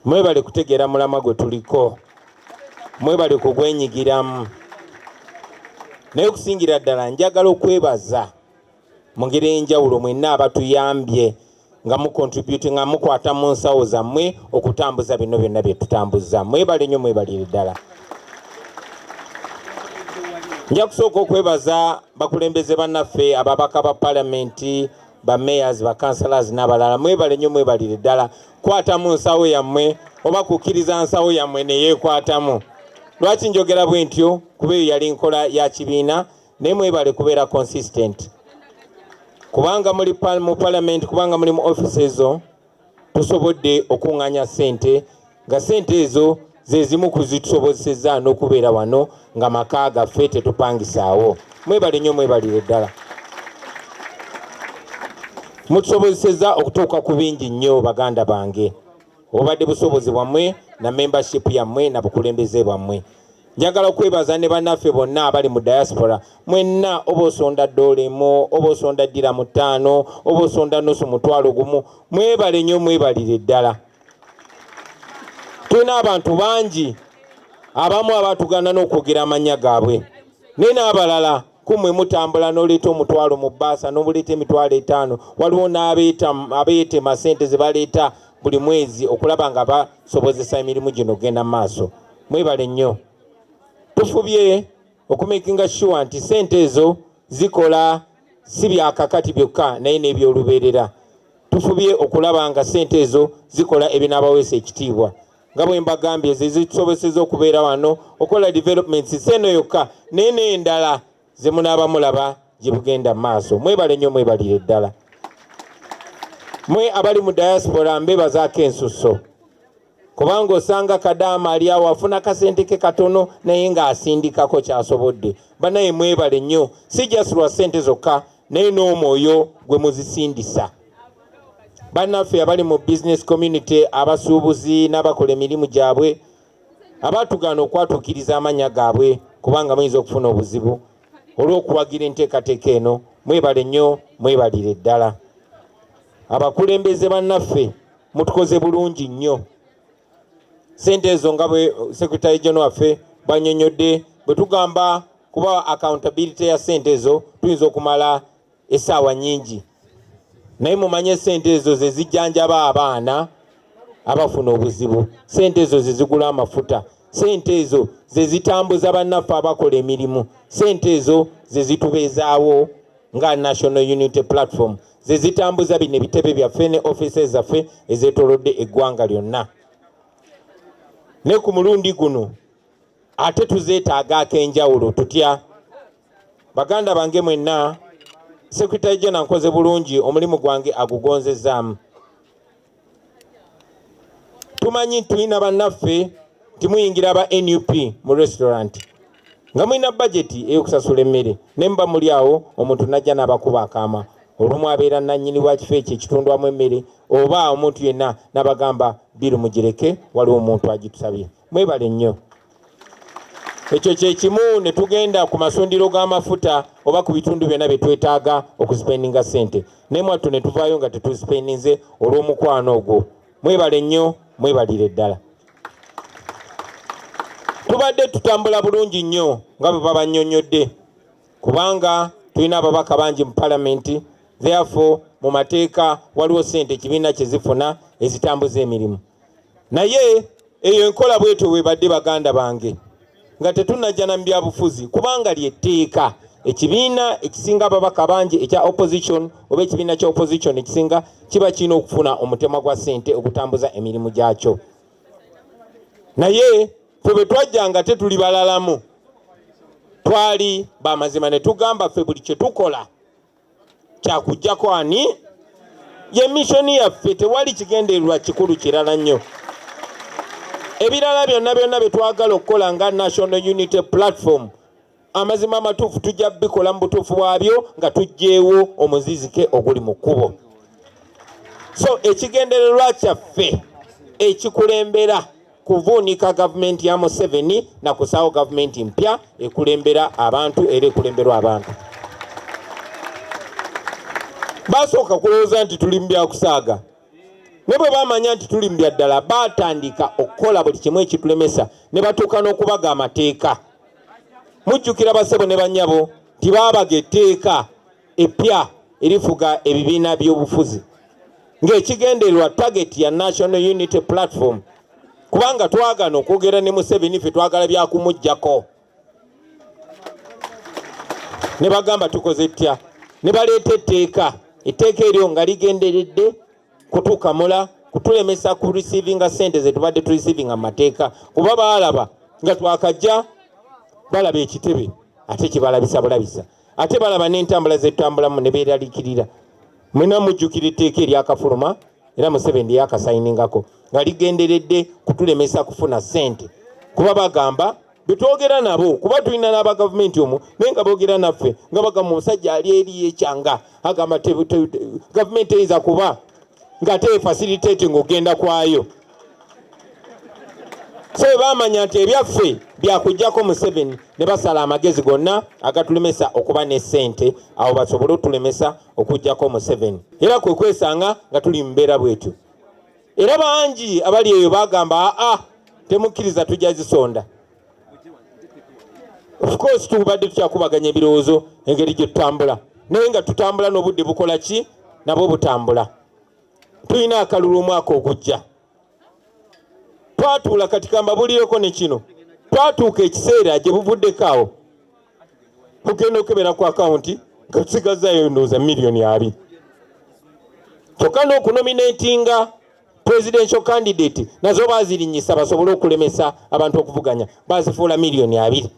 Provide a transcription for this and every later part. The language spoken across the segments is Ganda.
mwebale kutegeera mulamwa gwe tuliko mwebale kugwenyigiramu naye okusingira ddala njagala okwebaza mu ngeri enjawulo mwenna abatuyambye nga mukontributi nga mukwata mu nsawo zammwe okutambuza bino byonna bye tutambuza mwebale nnyo mwebalire ddala nja kusooka okwebaza bakulembeze bannaffe ababaka ba palamenti ba mayors ba councilors n'abalala mwebale nnyo mwebalire ddala kwata mu nsawo yammwe oba kukkiriza nsawo yammwe ne yeekwatamu lwaki njogera bwe ntyo kuba eyo yali nkola ya kibiina naye mwebale kubeera consistent kubanga muli mu palamenti kubanga muli mu office ezo tusobodde okuŋŋanya ssente nga ssente ezo ze zimu ku zitusobozesezza n'okubeera wano nga maka gaffe tetupangisaawo mwebale nnyo mwebalire ddala mutusobozesezza okutuuka ku bingi nnyo baganda bange obubadde busobozi bwammwe na membership yammwe na bukulembeze bwammwe njagala okwebaza ne bannaffe bonna abali mu diaspora mwenna oba osonda ddoola emu oba osonda ddira mu ttaano oba osonda nusu mutwalo gumu mwebale nnyo mwebalire ddala tulina abantu bangi abamu abatugana n'okwogera amannya gaabwe naye n'abalala kumwe mutambula n'oleeta omutwalo mu bbaasa n'obuleeta emitwalo etaano waliwo n'abeetema sente ze baleeta buli mwezi okulaba nga basobozesa emirimu gino genda mu maaso mwebale nnyo tufubye okumekinga shuwa nti sente ezo zikola si byakakati byokka naye n'ebyolubeerera tufubye okulaba nga sente ezo zikola ebinaabaweesa ekitiibwa nga bwe mbagambye ze zitusoboseza okubeera wano okola developments si eno yokka naye n'endala ze munaaba mulaba gye bugenda mu maaso mwebale nnyo mwebalire ddala mwe abali mu diaspora mbebazaako ensusso kubanga osanga kadaama ali awo afuna kasente ke katono naye ng'asindikako kyasobodde banaye mwebale nnyo si just lwa sente zokka naye n'omwoyo gwe muzisindisa bannaffe abali mu business community abasuubuzi n'abakola emirimu gyabwe abaatugaana okwatuukiriza amannya gaabwe kubanga muyinza okufuna obuzibu olw'okuwagira enteekateeka eno mwebale nnyo mwebalire ddala abakulembeze bannaffe mutukoze bulungi nnyo sente ezo nga bwe secretary general waffe banyonyodde bwe tugamba kuba accountability ya sente ezo tuyinza okumala esaawa nyingi naye mumanye sente ezo zezijjanjaba abaana abafuna obuzibu sente ezo zezigula amafuta sente ezo zezitambuza bannaffe abakola emirimu sente ezo zezitubeezaawo nga national unity platform ze zitambuza bino ebitebe byaffe ne offices zaffe ezetolodde eggwanga lyonna ne ku mulundi guno ate tuzeetaaga ak'enjawulo tutya baganda bange mwenna sekretary jena nkoze bulungi omulimu gwange agugonzezaamu tumanyi tulina bannaffe nti muyingira aba nup mu restaurant nga mulina bajeti ey'okusasula emmere ne muba muli awo omuntu najja n'abakuba akaama olumu abeera nannyini wa kifo ekyo ekitundwamu emmere oba omuntu yenna n'abagamba biru mugireke waliwo omuntu agitusabye mwebale nnyo ekyo kyekimu ne tugenda ku masundiro g'amafuta oba ku bitundu byonna bye twetaaga okusipendinga sente naye mwattu ne tuvaayo nga tetusipendinze olw'omukwano ogwo mwebale nnyo mwebalire ddala tubadde tutambula bulungi nnyo nga bwe babanyonyodde kubanga tulina ababaka bangi mu palamenti therefore mu mateeka waliwo sente ekibiina kye zifuna ezitambuza emirimu naye eyo enkola bwetyo bwebadde baganda bange nga tetunajjana mu byabufuzi kubanga lyetteeka ekibiina ekisinga ababaka bangi ekya opposition oba ekibiina kya opposition ekisinga kiba kirina okufuna omutemwa gwa sente okutambuza emirimu gyakyo naye fe bwe twajjanga tetuli balalamu twali bamazima ne tugamba ffe buli kye tukola kyakujjako ani ye mishoni yaffe tewali kigendererwa kikulu kirala nnyo ebirala byonna byonna bye twagala okukola nga national unity platform amazima amatuufu tujja bikola mu butuufu bwabyo nga tujjeewo omuzizike oguli mu kkubo so ekigendererwa kyaffe ekikulembera kuvuunika gavumenti ya Museveni na kusaawo gavumenti mpya ekulembera abantu era ekulemberwa abantu. Basooka kulowooza nti tuli mu byakusaaga ne bwe bamanya nti tuli mu byaddala baatandika okukola buli kimu ekitulemesa ne batuuka n'okubaga amateeka. Mujjukira basebo ne banyabo nti baabaga etteeka. eppya erifuga ebibiina by'obufuzi ng'ekigendererwa target ya National Unity Platform kubanga twagana okwogera ne Museveni ffe twagala byakumuggyako ne bagamba tukoze ttya ne baleeta etteeka etteeka eryo nga ligenderedde kutukamula kutulemesa ku receivinga sente zetubadde tu receivinga mu mateeka kuba baalaba nga twakajja balaba ekitebe ate kibalabisa bulabisa ate balaba n'entambula zetutambulamu ne beeralikirira mwena mujjukira etteeka eryakafuluma era museveni lyakasayiningako nga ligenderedde kutulemesa kufuna sente kuba bagamba betwogera nabo kuba tulina n'aba gavumenti omu naye nga boogera naffe nga bagamba omusajja ali eri ekyanga agamba gavumenti eyinza kuba nga teefasiriteeti ng'ogenda kwayo ffe baamanya nti ebyaffe byakujjako museveni ne basala amagezi gonna agatulemesa okuba ne ssente awo basobole otulemesa okujjako museveni era kwe kwesanga nga tuli mumbeera bwetyo era bangi abali eyo bagamba aa temukkiriza tujja zisonda ofcourse tubadde tukyakubaganya ebirowoozo engeri gye tutambula naye nga tutambula n'obudde bukola ki nabwo butambula tulina akalulu omwaka ogujja twatuula kati kambabulireko ne kino twatuuka ekiseera gye buvuddeko awo mugenda okukebera ku akawunti nga tusigazzayo ndowooza miliyoni abiri kyokka n'okunominatinga presidential candidate nazo bazirinyisa basobole okulemesa abantu okuvuganya bazifuula miliyoni abiri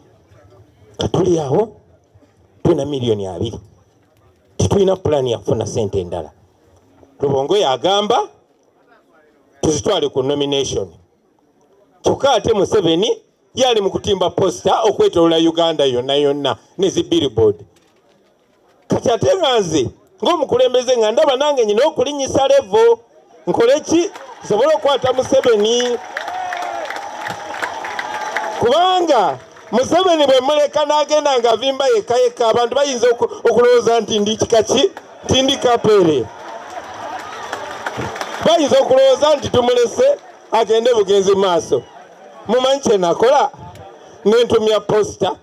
katuli awo tulina miliyoni abiri tetulina pulaani yakufuna sente endala lubongo yagamba tuzitwale ku nomination kyokka ate museveni yali mu kutimba posita okwetolola uganda yonna yonna nezi billboard kati ate nga nze ng'omukulembeze nga ndaba nange nyina okulinyisa levo nkole ki nsobole okukwata museveni kubanga museveni bwe muleka n'agenda nga avimba yekka yekka abantu bayinza okulowooza nti ndi kika ki nti ndi kapeere bayinza okulowooza nti tumulese agende bugenzi maaso mumanyi kyenakola nentumya posita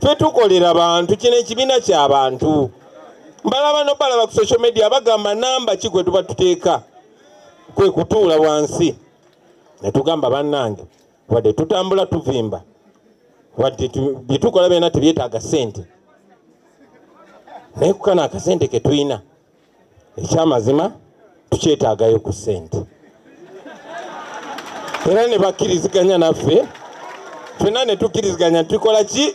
ffe tukolera bantu kino ekibiina kyabantu mbalaba nobalaba ku social media bagamba namba ki gwe tuba tuteeka kwe kutuula wansi ne tugamba bannange wadde tutambula tuvimba wadde bye tukola byona tebyetaaga ssente naye kukano akasente ke tulina ekyamazima tukyetaagayo ku ssente era ne bakkiriziganya naffe fenna ne tukkiriziganya tukola ki